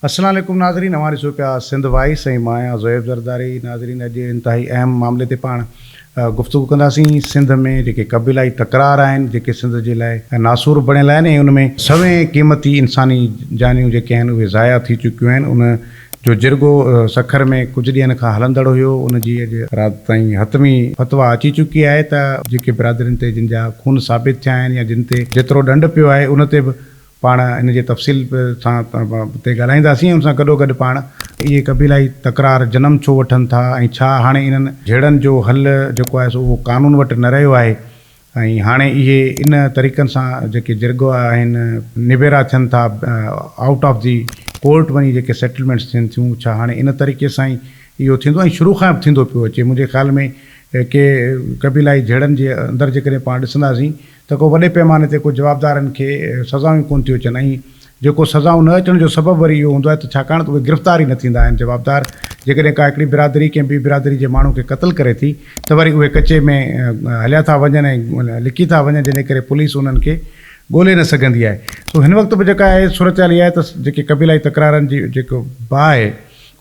السلام عليڪم ناظرين اوهان ڏسو پيا سنڌ وائيس ۽ مان آهيان زويب زرداري ناظرين اڄ انتهائي اهم معاملي تي پاڻ گفتگو ڪنداسين سنڌ ۾ جيڪي قبيلائي تڪرار آهن جيڪي سنڌ جي لاء ناسور بڻيل آهن ۽ ان ۾ سوين قيمتي انساني جانيون جيڪي آهن اهي ضايع ٿي چڪيون آهن ان جو جرڳو سکر ۾ ڪجهه ڏينهن کان هلندڙ هيو ان جي اڄ رات تائين حتمي فتويٰ اچي چڪي آهي ته جيڪي برادرين تي جن جا خون ثابت ٿيا آهن يا جن تي جيترو ڏنڊ پيو آهي ان تي به پاڻ ان جي تفصيل سان تي ڳالهائينداسين ۽ ان سان گڏوگڏ پاڻ. اهي قبيلائي تڪرار جنم ڇو وٺن ٿا ۽ ڇا هاڻي انهن. جهيڙن جو حل جيڪو آهي سو اهو قانون وٽ نه رهيو آهي ۽ هاڻي اهي ان طريقن سان جيڪي جرڳو آهن. نبيرا ٿين ٿا آئوٽ آف دي ڪورٽ وڃي جيڪي سيٽلمينٽس ٿين ٿيون ڇا هاڻي ان طريقي سان ئي اهو ٿيندو ۽ شروع کان به ٿيندو پيو اچي منهنجي خيال ۾ ڪي قبيلائي جهيڙن جي اندر جيڪڏهن پاڻ ڏسنداسين ته ڪو وڏي پئماني تي ڪو جوابدارن کي سزائون ئي ڪونه ٿيون اچن ۽ جيڪو سزائون نه اچڻ جو سبب وري اهو هوندو آهي ته ڇاڪاڻ ته اهي گرفتار ئي نه ٿيندا آهن جوابدار جيڪڏهن ڪا هڪڙي برادري ڪنهن ٻي برادري جي ماڻهو کي قتل ڪري ٿي ته وري اهي ڪچي ۾ هليا ٿا وڃن ۽ لڪي ٿا وڃن جنهن ڪري پوليس انهن کي ڳولي نه سگهندي آهي سو هن وقت به جيڪا آهي صورتحال اها آهي ته جيڪي قبيلائي تڪرارن جي جيڪو باهه آهي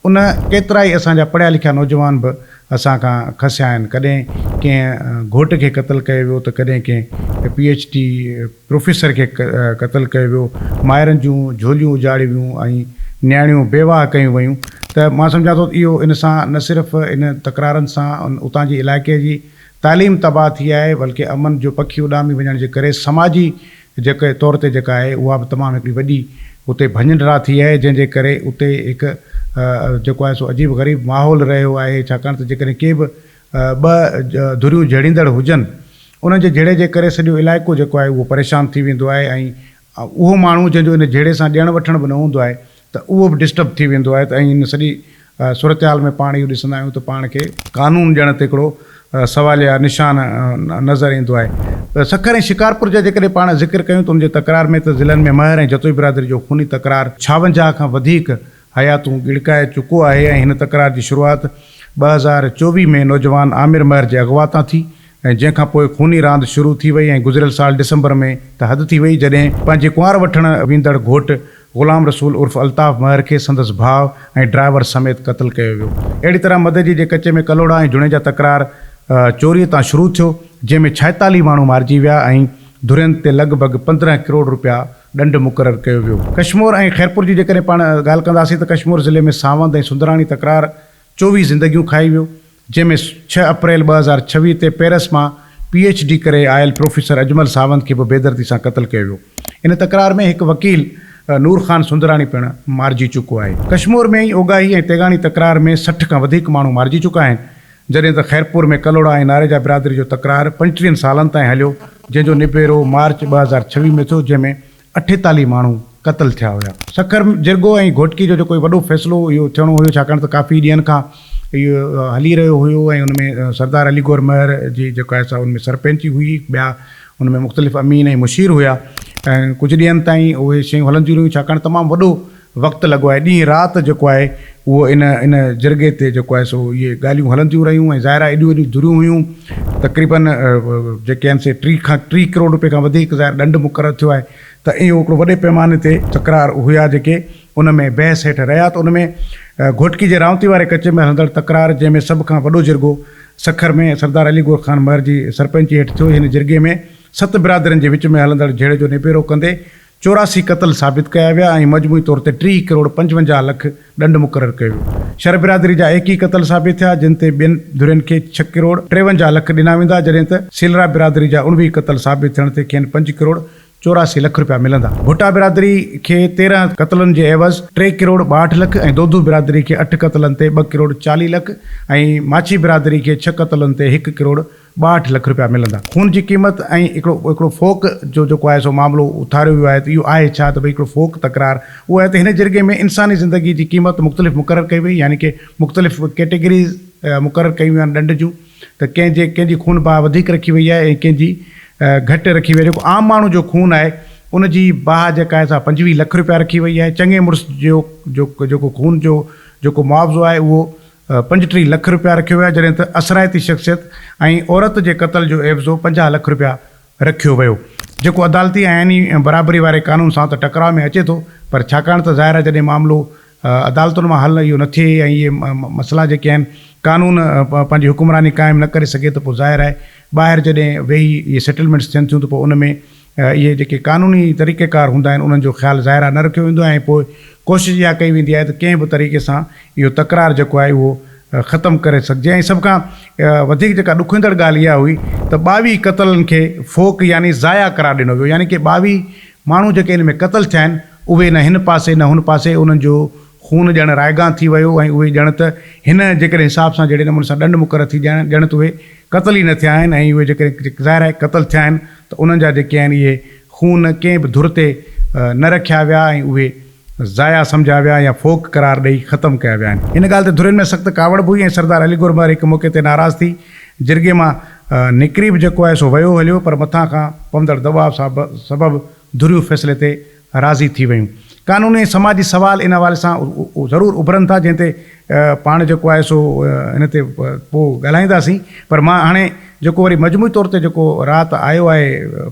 ان ڪيترائي اسان جا پڙهيا لکيا نوجوان به اسان کان کسيا آهن، ڪڏهن ڪنهن گهوٽ کي قتل ڪيو ويو ته ڪڏهن ڪنهن پي ايڇ ڊي پروفيسر کي قتل ڪيو ويو، مائرن جون جهوليون اجاڙيون ويون ۽ نياڻيون بيواهه ڪيون ويون ته مان سمجهان ٿو اهو ان سان نه صرف ان تڪرارن سان اتان جي علائقي جي تعليم تباهه ٿي آهي بلڪه امن جو پکي اڏامي وڃڻ جي ڪري سماجي جيڪي طور تي جيڪا آهي اها به تمام هڪڙي وڏي اتي ڀڃنڊرا ٿي آهي جنهن جي ڪري اتي هڪ جيڪو آهي سو عجيب غريب ماحول رهيو آهي ڇاڪاڻ ته جيڪڏهن ڪي به ٻه ڌريون جهيڙيندڙ هجن انهن جي جهيڙي جي ڪري سڄو علائقو جيڪو آهي اهو پريشان ٿي ويندو آهي ۽ اهو ماڻهو جنهن جو ان جهيڙي سان ڏيڻ وٺڻ به نه هوندو آهي ته اهو به ڊسٽرب ٿي ويندو آهي ته ائين ان سڄي صورتحال ۾ پاڻ اهو ڏسندا آهيون ته پاڻ کي قانون ڄڻ ته هڪڙو سواليه نشان نظر ايندو آهي ته سکر ۽ شڪارپور جا جيڪڏهن پاڻ ذڪر ڪيون ته ان جي تڪرار ۾ ته ضلعن ۾ مهر ۽ جتوئي برادري جو خوني تڪرار ڇاونجاهه کان وڌيڪ حياتون ڳڙڪائي چڪو آهي ۽ هن تڪرار جي شروعات ٻه هزار چوويهه ۾ نوجوان عامر مهر جي اغوا تان ٿي ۽ جنهن کان پوء خوني راند شروع ٿي وئي ۽ گذريل سال ڊسمبر ۾ ته حد ٿي وئي جڏهن پنهنجي ڪنوار وٺڻ ويندڙ گهوٽ غلام رسول عرف الطاف مهر کي سندس ڀاء ۽ ڊرائيور سميت قتل ڪيو ويو اهڙي طرح مدئجي جي ڪچي ۾ ڪلهوڙا ۽ جوڻيجا تڪرار چوري تان شروع ٿيو جنهن ۾ ڇائيتاليهه ماڻهو مارجي ويا ۽ ڌرين تي لڳ ڀڳ پندرهن ڪروڙ رپيا ڏنڊ مقرر ڪيو ويو. ڪشمور ۽ خيرپور جي جيڪڏهن پاڻ ڳالهه ڪنداسين ته ڪشمور ضلعي ۾ ساوند ۽ سندراڻي تڪرار چوويهه زندگيون کائي ويو، جنهن ۾ ڇهه اپريل ٻه هزار ڇويهه تي پيرس مان پي ايڇ ڊي ڪري آيل پروفيسر اجمل ساوند کي به بيدردي سان قتل ڪيو ويو. ان تڪرار ۾ هڪ وڪيل نور خان سندراڻي پڻ مارجي چڪو آهي. ڪشمور ۾ ئي اوگاهي ۽ تيغاڻي تڪرار ۾ سٺ کان وڌيڪ ماڻهو مارجي چڪا آهن، جڏهن ته خيرپور ۾ ڪلهوڙا ۽ ناريجا برادري جو تڪرار پنجٽيهن سالن تائين هليو، جنهن جو نبيرو مارچ ٻه هزار ڇويهه ۾ ٿيو، جنهن ۾ اٺيتاليهه ماڻهو قتل ٿيا هيا. سکر، جرڳو ۽ گهوٽڪي جو جيڪو هي وڏو فيصلو اهو ٿيڻو هيو ڇاڪاڻ ته ڪافي ڏينهن کان اهو هلي رهيو هيو ۽ ان ۾ سردار علي گور مهر جي جيڪا هي سا ان ۾ سرپنچ هئي ٻيا ان ۾ مختلف امين ۽ مشير هيا ۽ ڪجهه ڏينهن تائين اهي شيون هلنديون رهيون ڇاڪاڻ تمام وڏو وقت لڳو آهي ڏينهن رات جيڪو آهي اهو ان ان جرڳي تي جيڪو آهي سو اهي ڳالهيون هلنديون رهيون ۽ ظاهر آهي ايڏيون ايڏيون ڌريون هيون تقريبن جيڪي آهن سي ٽي کان ٽي ڪروڙ روپي کان وڌيڪ ظاهر ڏنڊ مقرر ٿيو آهي ته اهو هڪڙو وڏي پيماني تي تڪرار هيا جيڪي ان ۾ بحث هيٺ رهيا ته ان ۾ گهوٽڪي جي رانوتي واري ڪچي ۾ هلندڙ تڪرار جنهن ۾ سڀ کان وڏو جرڳو سکر ۾ سردار علي گور خان مهر جي سرپنچي هيٺ ٿيو هن جرڳي ۾ ست برادرين جي وچ ۾ هلندڙ جهيڙي جو نبيرو ڪندي چوراسي قتل ثابت ڪيا ويا ۽ مجموعي طور تي ٽيهه ڪروڙ پنجونجاهه لک ڏنڊ مقرر ڪيو ويو. شر برادري جا ايڪيهه قتل ثابت ٿيا، جن تي ٻين ڌرين کي ڇهه ڪروڙ ٽيونجاهه لک ڏنا ويندا، جڏهن ته سيلرا برادري جا اڻويهه قتل ثابت ٿيڻ تي کين پنج ڪروڙ چوراسي لک رپيا ملندا. ڀٽا برادري کي تيرهن قتلن جي عيوض ٽي ڪروڙ ٻاهٺ لک ۽ دودو برادري کي اٺ قتلن تي ٻه ڪروڙ چاليهه لک ۽ ماڇي برادري کي ڇهه قتلن تي هڪ ڪروڙ ٻاهٺ لک رپيا ملندا. خون جي قيمت ۽ هڪڙو هڪڙو فوڪ جو جيڪو آهي سو معاملو اٿاريو ويو آهي ته اهو آهي ڇا ته ڀئي هڪڙو فوڪ تڪرار اهو آهي ته هن جرڳي ۾ انساني زندگي جي قيمت مختلف مقرر ڪئي وئي يعني ڪي مختلف ڪيٽيگريز مقرر ڪيون ويون آهن ڏنڊ جون ته ڪنهن جي ڪنهن جي خون باهه وڌيڪ رکي وئي آهي ۽ ڪنهن جي گهٽ رکي وئي آهي جيڪو عام ماڻهو جو خون آهي ان جي باهه جيڪا آهي سا پنجويهه لک رپيا رکي وئي آهي چڱي مڙس جو جو جيڪو خون جو جيڪو معاوضو آهي اهو پنجٽيهه لک رپيا رکيو ويا جڏهن ته اثرائتي شخصيت ۽ عورت جي قتل جو عيوضو پنجاهه لک رپيا رکيو ويو جيڪو عدالتي ۽ آئيني برابري واري قانون سان ته ٽڪراء ۾ اچي ٿو پر ڇاڪاڻ ته ظاهر آهي جڏهن معاملو عدالتن مان حل اهو نه ٿئي ۽ اهي مسئلا جيڪي آهن قانون پنهنجي حڪمراني قائم نه ڪري سگهي ته پوء ظاهر آهي ٻاهر جڏهن ويهي اهي سيٽلمينٽس ٿين ٿيون ته پوء ان ۾ اهي جيڪي قانوني طريقيڪار هوندا آهن انهن جو خيال ظاهرا نه رکيو ويندو آهي ۽ پوء ڪوشش اها ڪئي ويندي آهي ته ڪنهن به طريقي سان اهو تڪرار جيڪو آهي اهو ختم ڪري سگهجي ۽ سڀ کان وڌيڪ جيڪا ڏکوئيندڙ ڳالهه اها هئي ته ٻاويهه قتلن کي فوڪ يعني ضايع قرار ڏنو ويو يعني ڪي ٻاويهه ماڻهو جيڪي ان ۾ قتل ٿيا آهن اهي نه هن پاسي نه هن پاسي انهن جو خون ڄڻ رائگان ٿي ويو ۽ اهي ڄڻ ته هن جيڪڏهن حساب سان جهڙي نموني سان ڏنڊ مقرر ٿي ڄڻ ڄڻ ته اهي قتل ئي نه ٿيا آهن ۽ اهي جيڪڏهن ظاهر آهي قتل ٿيا آهن ته انهن جا جيڪي آهن اهي خون ڪنهن به ڌر تي نه رکيا ويا ۽ اهي ضايع سمجهيا ويا يا فوڪ قرار ڏئي ختم ڪيا ويا آهن. هن ڳالهه تي ڌرين ۾ سخت ڪاوڙ به هئي ۽ سردار علي گور مهر هڪ موقعي تي ناراض ٿي جرڳي مان نڪري به جيڪو آهي سو ويو هليو پر مٿان کان پوندڙ دٻاء سبب ڌريون فيصلي تي راضي ٿي ويون. قانوني ۽ سماجي سوال ان حوالي سان ضرور اڀرن ٿا جنهن تي پاڻ جيڪو آهي سو ان تي پوء ڳالهائينداسين پر مان هاڻي جيڪو وري مجموعي طور تي جيڪو رات آيو آهي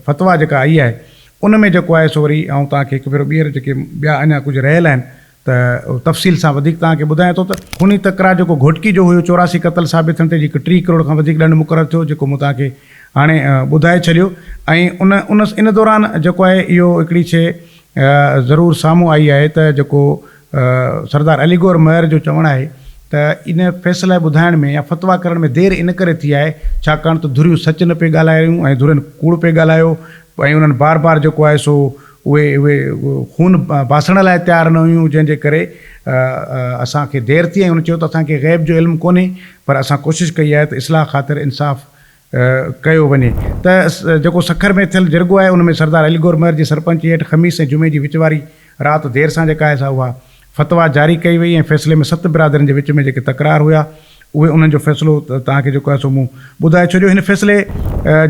فتويٰ جيڪا آئي آهي ان ۾ جيڪو آهي سو وري آئون توهان کي هڪ ڀيرو ٻيهر جيڪي ٻيا اڃا ڪجهه رهيل آهن ته تفصيل سان وڌيڪ توهان کي ٻڌايان ٿو ته خوني تڪرار جيڪو گهوٽڪي جو هيو چوراسي قتل ثابت ٿيڻ تي جيڪو ٽي ڪروڙ کان وڌيڪ ڏنڊ مقرر ٿيو جيڪو مون توهان کي هاڻي ٻڌائي ڇڏيو ۽ ان ان ان دوران جيڪو آهي اهو هڪڙي شيء ضرور سامهون آئي آهي ته جيڪو سردار علي گوهر مهر جو چوڻ آهي ته ان فيصله ٻڌائڻ ۾ يا فتويٰ ڪرڻ ۾ دير ان ڪري ٿي آهي ڇاڪاڻ ته ڌريون سچ نه پئي ڳالهائي رهيون ۽ ڌرين ڪوڙ پئي ڳالهايو ۽ انهن بار بار جيڪو آهي سو اهي اهي خون باسڻ لاء تيار نه هيون جنهن جي ڪري اسان کي دير ٿي ۽ هن چيو ته اسان کي غيب جو علم ڪونهي پر اسان ڪوشش ڪئي آهي ته اصلاح خاطر انصاف ڪيو وڃي ته جيڪو سکر ۾ ٿيل جرڳو آهي ان ۾ سردار علي گور مهر جي سرپنچي هيٺ خميس ۽ جمعي جي وچ واري رات دير سان جيڪا آهي سا اها فتويٰ جاري ڪئي وئي ۽ فيصلي ۾ ست برادرين جي وچ ۾ جيڪي تڪرار هيا اهي انهن جو فيصلو توهان کي جيڪو آهي سو مون ٻڌائي ڇڏيو. هن فيصلي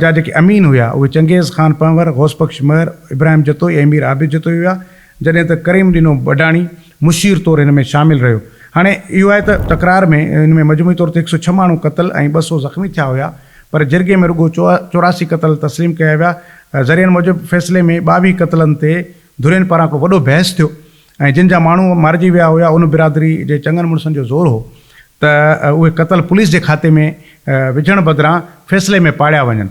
جا جيڪي امين هيا اهي چنگيز خان پنهور، غوث بخش مهر، ابراهيم جتوئي ۽ مير عابد جتوئي هيا جڏهن ته ڪريم ڏنو بڊاڻي مشير طور هن ۾ شامل رهيو. هاڻي اهو آهي ته تڪرار ۾ هن ۾ مجموعي طور تي هڪ سؤ ڇهه ماڻهو قتل ۽ ٻه سؤ زخمي ٿيا هيا پر جرڳي ۾ رڳو چوراسي قتل تسليم ڪيا ويا. ذريعن موجب فيصلي ۾ ٻاويهه قتلن تي ڌرين پاران ڪو وڏو بحث ٿيو ۽ جن جا ماڻهو مارجي ويا هيا ان برادري جي چڱن مڙسن جو زور هو ته اهي قتل پوليس جي کاتي ۾ وجهڻ بدران فيصلي ۾ پاڙيا وڃن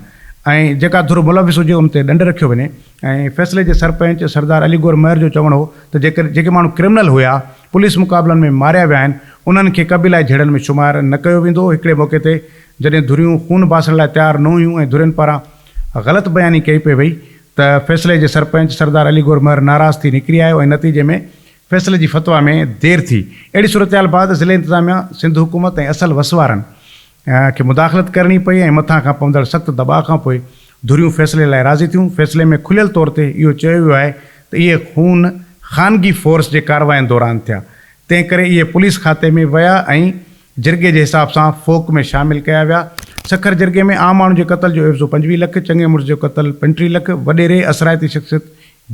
۽ جيڪا ڌر ملوث هجي ان تي ڏنڊ رکيو وڃي ۽ فيصلي جي سرپنچ سردار علي گور مهر جو چوڻ هو ته جيڪر جيڪي ماڻهو ڪرمنل هيا پوليس مقابلن ۾ ماريا ويا آهن انهن کي قبيلائي جهيڙن ۾ شمار نه ڪيو ويندو هڪڙي موقعي تي جڏهن ڌريون خون باسڻ لاء تيار نه هيون ۽ ڌرين پاران غلط بياني ڪئي پئي وئي ته فيصلي جي سرپنچ سردار علي گور مهر ناراض ٿي نڪري آيو ۽ نتيجي ۾ فيصلي جي فتويٰ ۾ دير ٿي. اهڙي صورتحال بعد ضلعي انتظاميا، سنڌ حڪومت ۽ اصل وسوارن کي مداخلت ڪرڻي پئي ۽ مٿان کان پوندڙ سخت دٻاء کانپوء ڌريون فيصلي لاء راضي ٿيون. فيصلي ۾ کليل طور تي اهو چيو ويو آهي ته اهي خون خانگي فورس جي ڪاررواين دوران ٿيا، تنهنڪري اهي پوليس کاتي ۾ ويا ۽ جرڳي جي حساب سان فوڪ ۾ شامل ڪيا ويا. سکر جرڳي ۾ عام ماڻهن جي قتل جو عيوضو پنجويهه لک، چڱي مڙس جو قتل پنٽيهه لک، وڏيري اثرائتي شخصيت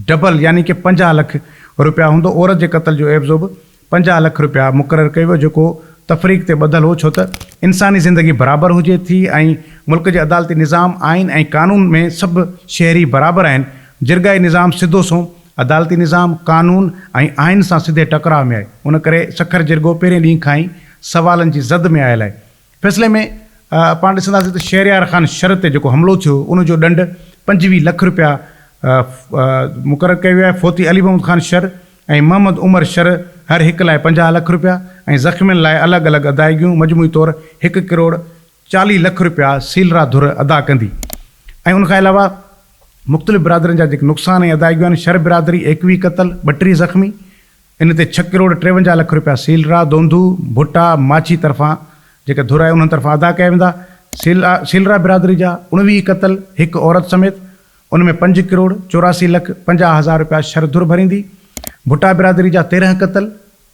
ڊبل يعني ڪه پنجاهه لک روپيا هوندو، عورت جي قتل جو عيوضو به پنجاهه لک روپيا مقرر ڪيو ويو جيڪو تفريق تي ٻڌل هو ڇو ته انساني زندگي برابر هجي ٿي ۽ ملڪ جي عدالتي نظام، آئين ۽ قانون ۾ سڀ شهري برابر آهن، جرڳائي نظام سڌو سنئون عدالتي نظام قانون ۽ آئين سان سڌي ٽڪراء ۾ آهي، ان ڪري سکر جرڳو پهرين ڏينهن کان ئي سوالن جي زد ۾ آيل آهي. فيصلي ۾ پاڻ ڏسنداسين ته شهريار خان شر تي جيڪو حملو ٿيو هو، ان جو ڏنڊ پنجويهه لک رپيا مقرر ڪيو ويو آهي. فوتي علي محمد خان شر ۽ محمد عمر شر هر هڪ لاء پنجاهه لک رپيا ۽ زخمين لاء الڳ الڳ ادائيگيون مجموعي طور هڪ ڪروڙ چاليهه لک رپيا سيلرا ڌر ادا ڪندي ۽ ان کان علاوه مختلف برادرين جا جيڪي نقصان ۽ ادائگيون آهن، شھر برادري ايڪويهه قتل، ٻٽيهه زخمي، ان تي ڇهه ڪروڙ ٽيونجاهه لک رپيا سيلرا، دوندو، ڀٽا، ماڇي طرفان جيڪا ڌر آهي انهن طرفان ادا ڪيا ويندا. سيلرا سيلرا برادري جا اڻويهه قتل، هڪ عورت سميت ان ۾ پنج ڪروڙ چوراسي لک پنجاهه هزار رپيا شھر ڌر ڀريندي. ڀٽا برادري جا تيرهن قتل،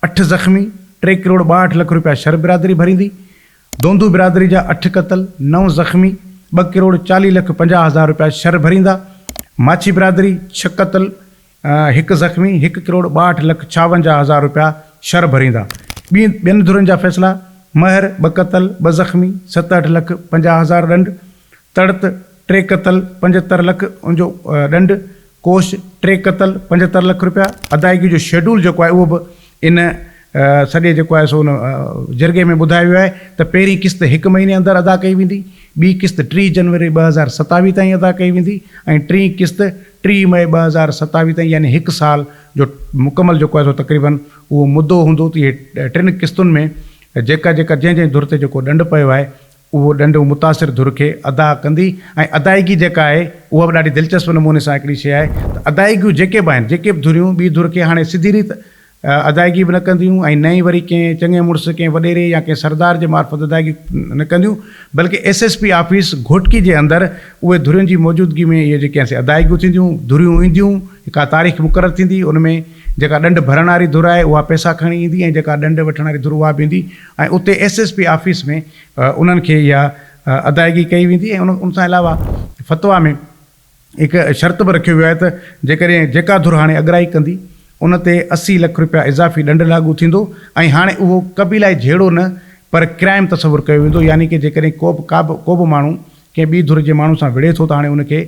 اٺ زخمي، ٽي ڪروڙ ٻاهٺ لک رپيا شھر برادري ڀريندي. دوندو برادري جا اٺ قتل، نو زخمي، ٻه ڪروڙ چاليهه لک پنجاهه هزار رپيا شھر ڀريندا، ماڇي برادري ڇهه قتل، هڪ زخمي، هڪ ڪروڙ ٻاهٺ لک ڇاونجاهه هزار رپيا شھر ڀريندا، ٻين ڌرين جا فيصلا، مهر ٻه قتل، ٻه زخمي، ستهٺ لک پنجاهه هزار ڏنڊ، تڙت، ٽي قتل، پنجهتر لک ان جو ڏنڊ، ڪوش، ٽي قتل، پنجهتر لک رپيا، ادائگي جو شيڊول جيڪو آهي اهو به ان سڄي جيڪو آهي سو ان جرڳي ۾ ٻڌايو ويو آهي ته پهرين قسط هڪ مهيني اندر ادا ڪئي ويندي، ٻي قسط ٽي جنوري ٻه هزار ستاويهه تائين ادا ڪئي ويندي ۽ ٽين قسط ٽي مئي ٻه هزار ستاويهه تائين يعني هڪ سال جو مڪمل جيڪو آهي سو تقريبن اهو مدو هوندو ته اهي ٽن قسطن ۾ جيڪا جيڪا جنهن جنهن ڌر تي جيڪو ڏنڊ پيو آهي اهو ڏنڊ متاثر ڌر کي ادا ڪندي ۽ ادائيگي جيڪا آهي اها به ڏاڍي دلچسپ نموني سان هڪڙي شيء آهي ته ادائيگيون جيڪي به آهن جيڪي به ڌريون ٻي ڌر کي هاڻي سڌي ريت ادائيگي به نه ڪنديون ۽ نه ئي وري ڪنهن چڱي مڙس ڪنهن وڏيري يا ڪنهن سردار جي معرفت ادائيگي نه ڪنديون بلڪه S S P office Ghotki جي اندر اهي ڌرين جي موجودگي ۾ اهي جيڪي سي ادائيگيون ٿينديون ڌريون اينديون هڪا تاريخ مقرر ٿيندي ان ۾ جيڪا ڏنڊ ڀرڻ واري ڌر آهي اها پئسا کڻي ايندي ۽ جيڪا ڏنڊ وٺڻ واري ڌر اها به ايندي ۽ اتي ايس ايس پي آفيس ۾ انهن کي اها ادائگي ڪئي ويندي ۽ ان سان علاوه فتويٰ ۾ هڪ شرط به رکيو ويو آهي ته جيڪڏهن جيڪا ڌر هاڻي اڳرائي ڪندي ان تي اسي لک رپيا اضافي ڏنڊ لاڳو ٿيندو ۽ هاڻي اهو قبيلائي جهيڙو نه پر ڪرائم تصور ڪيو ويندو يعني ڪه جيڪڏهن ڪوبه ڪابه ڪوبه ماڻهو ڪنهن ٻي ڌر جي ماڻهو سان وڙهي ٿو ته هاڻي ان کي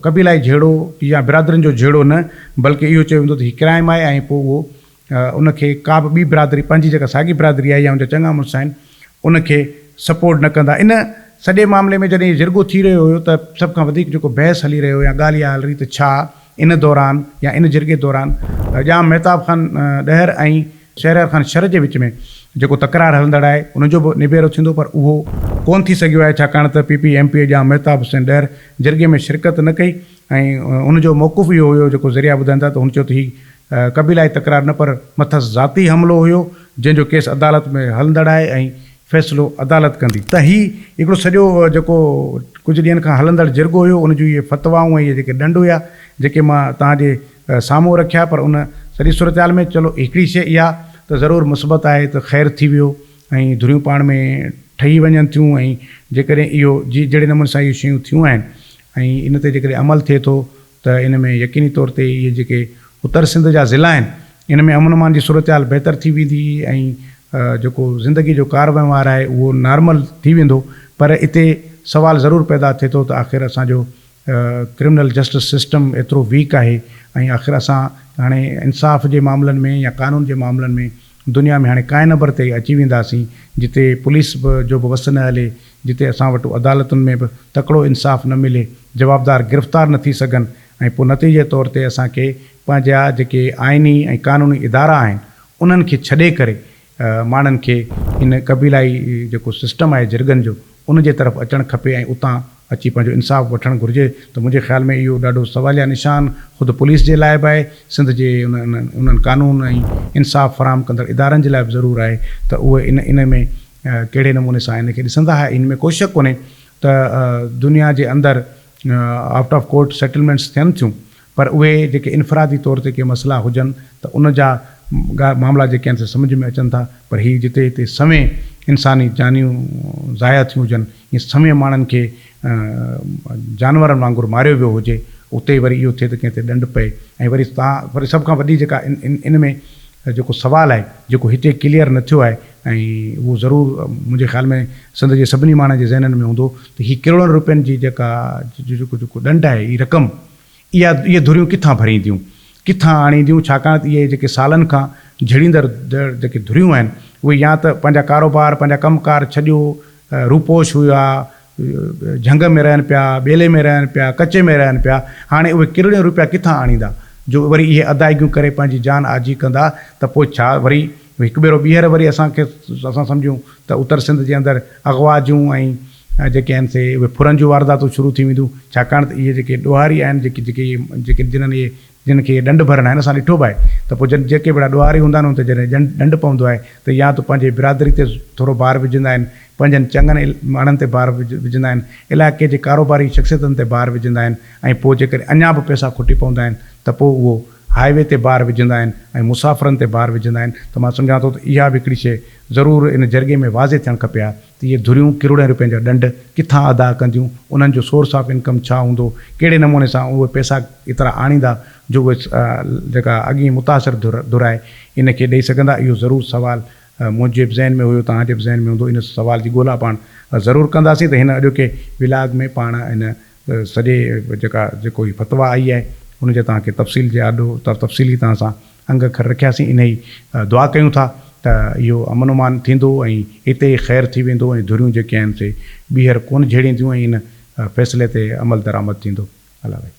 قبيلائي جهيڙو يا برادرين جو جهيڙو نه بلڪه اهو چيو ويندو ته هي ڪرائم آهي ۽ پوء اهو ان کي ڪا به ٻي برادري پنهنجي جيڪا ساڳي برادري آهي يا ان جا چڱا مڙس آهن ان کي سپورٽ نه ڪندا ان سڄي معاملي ۾ جڏهن هي جرڳو ٿي رهيو هيو ته سڀ کان وڌيڪ جيڪو بحث هلي رهيو يا ڳالهه اها هل رهي ته ڇا ان دوران يا ان جرڳي دوران ڄام مهتاب خان ڏهر ۽ شهريار خان شر جي وچ ۾ جيڪو تڪرار هلندڙ آهي ان جو به نبيرو ٿيندو پر اهو ڪونه ٿي سگهيو آهي ڇاڪاڻ ته P P M P A Jam Mehtab Hussain Dahar جرڳي ۾ شرڪت نه ڪئي ۽ ان جو موقف اهو هيو جيڪو ذريعا ٻڌائين ٿا ته هن چيو ته هي قبيلائي تڪرار نه پر مٿس ذاتي حملو هيو جنهن جو ڪيس عدالت ۾ هلندڙ آهي ۽ فيصلو عدالت ڪندي ته هي هڪڙو سڄو جيڪو ڪجهه ڏينهن کان هلندڙ جرڳو هيو ان جون اهي فتوائون ۽ اهي جيڪي ڏنڊ هيا جيڪي مان توهان جي سامهون رکيا پر ان سڄي صورتحال ۾ چلو هڪڙي شيء اها ته ضرور مثبت آهي ته خير ٿي ويو ۽ ڌريون پاڻ ۾ ٺهي وڃن ٿيون ۽ جيڪڏهن اهو جي جهڙي نموني سان اهي شيون ٿيون آهن ۽ ان تي جيڪڏهن عمل ٿئي ٿو ته ان ۾ يقيني طور تي اهي جيڪي اتر سنڌ جا ضلعا آهن ان ۾ امن امان جي صورتحال بهتر ٿي ويندي ۽ جيڪو زندگي جو ڪار وهنوار آهي اهو نارمل ٿي ويندو پر اتي سوال ضرور پيدا ٿئي ٿو ته آخر اسان جو ڪرمنل جسٽس سسٽم ايترو ويڪ آهي ۽ آخر اسان هاڻي انصاف جي معاملن ۾ يا قانون جي معاملن ۾ دنيا ۾ هاڻي ڪانء نبر تي اچي وينداسين جتي پوليس به جو به وس نه هلي، جتي اسان وٽ عدالتن ۾ به تڪڙو انصاف نه ملي، جوابدار گرفتار نه ٿي سگهن ۽ پوء نتيجي طور تي اسان کي پنهنجا جيڪي آئيني ۽ قانوني ادارا آهن انهن کي ڇڏي ڪري ماڻهن کي ان قبيلائي جيڪو سسٽم آهي جرڳن جو ان جي طرف اچڻ کپي ۽ اتان اچي پنهنجو انصاف وٺڻ گهرجي ته منهنجي خيال ۾ اهو ڏاڍو سواليه نشان خود پوليس جي لاء به آهي، سنڌ جي انهن قانون ۽ انصاف فراهم ڪندڙ ادارن جي لاء به ضرور آهي ته اهي ان ان ۾ ڪهڙي نموني سان ان کي ڏسندا ها ان ۾ ڪو شڪ ڪونهي ته دنيا جي اندر آئوٽ آف ڪورٽ سيٽلمينٽس ٿين ٿيون پر اهي جيڪي انفرادي طور تي ڪي مسئلا هجن ته ان جا معاملا جيڪي آهن سي سمجهه ۾ اچن ٿا پر هي جتي هتي سوين انساني جانيون ضايع ٿيون هجن ۽ سوين ماڻهن کي جانورن وانگر ماريو ويو هجي اتي وري اهو ٿئي ته ڪنهن تي ڏنڊ پئي ۽ وري تان وري سڀ کان وڏي جيڪا ان ۾ جيڪو سوال آهي جيڪو هتي ڪليئر نه ٿيو آهي ۽ اهو ضرور منهنجي خيال ۾ سنڌ جي سڀني ماڻهن جي ذهنن ۾ هوندو ته هي ڪروڙن روپين جي جيڪا جيڪو جيڪو ڏنڊ آهي هي رقم اها اهي ڌريون ڪٿان ڀرينديون، ڪٿان آڻينديون ڇاڪاڻ ته اهي جيڪي سالن کان جهڙيندڙ جيڪي ڌريون آهن اهي يا ته پنهنجا ڪاروبار پنهنجا ڪم ڪار ڇڏيو روپوش هيا جهنگ ۾ رهن پيا ٻيلي ۾ رهن پيا ڪچي ۾ رهن پيا هاڻي اهي ڪرڙيون روپيا ڪٿان آڻيندا جو وري اهي ادائيگيون ڪري پنهنجي جان آجي ڪندا ته پوء ڇا وري هڪ ڀيرو ٻيهر وري اسان کي اسان سمجهون ته اتر سنڌ جي اندر اغوا جون ۽ جيڪي آهن سي اهي ڦرن جون وارداتون شروع ٿي وينديون ڇاڪاڻ ته اهي جيڪي ڏوهاري آهن جيڪي جيڪي جيڪي جنهن اهي جن کي اهي ڏنڊ ڀرن آهن اسان ڏٺو به آهي ته پوء جن جيڪي ڀيڙا ڏوهاري هوندا آهن ان تي جڏهن ڏنڊ ڏنڊ پوندو آهي ته يا ته پنهنجي برادري تي ٿورو بار وجهندا آهن پنهنجن چڱن ماڻهن تي بار وجهندا آهن علائقي جي ڪاروباري شخصيتن تي بار وجهندا آهن ۽ پوء جيڪڏهن اڃا به پئسا کٽي پوندا آهن ته پوء اهو هاء وي تي بار وجهندا آهن ۽ مسافرن تي بار وجهندا آهن ته مان سمجهان ٿو ته اها به هڪڙي شيء ضرور ان جرڳي ۾ واضح ٿيڻ کپي ها ته اهي ڌريون ڪروڙين روپين جا ڏنڊ ڪٿان ادا ڪنديون، انهن جو سورس آف انڪم ڇا هوندو، ڪهڙي نموني سان اهي پئسا ايترا آڻيندا جو اهي جيڪا اڳين متاثر ڌر آهي ان کي ڏئي سگهندا، اهو ضرور سوال منهنجي به ذهن ۾ هيو، توهان جي به ذهن ۾ هوندو، ان سوال جي ڳولا پاڻ ضرور ڪنداسين ته هن اڄوڪي ولاگ ۾ پاڻ هن سڄي جيڪا جيڪو هي فتويٰ آئي آهي ان جي توهان کي تفصيل جي آڏو تفصيلي توهان سان انگ کر رکياسين انهي دعا ڪيون ٿا ته اهو امن امان ٿيندو ۽ اتي ئي خير ٿي ويندو ۽ ڌريون جيڪي آهن سي ٻيهر ڪونه جهيڙينديون ۽ ان فيصلي تي عمل درآمد ٿيندو. الله وحيد.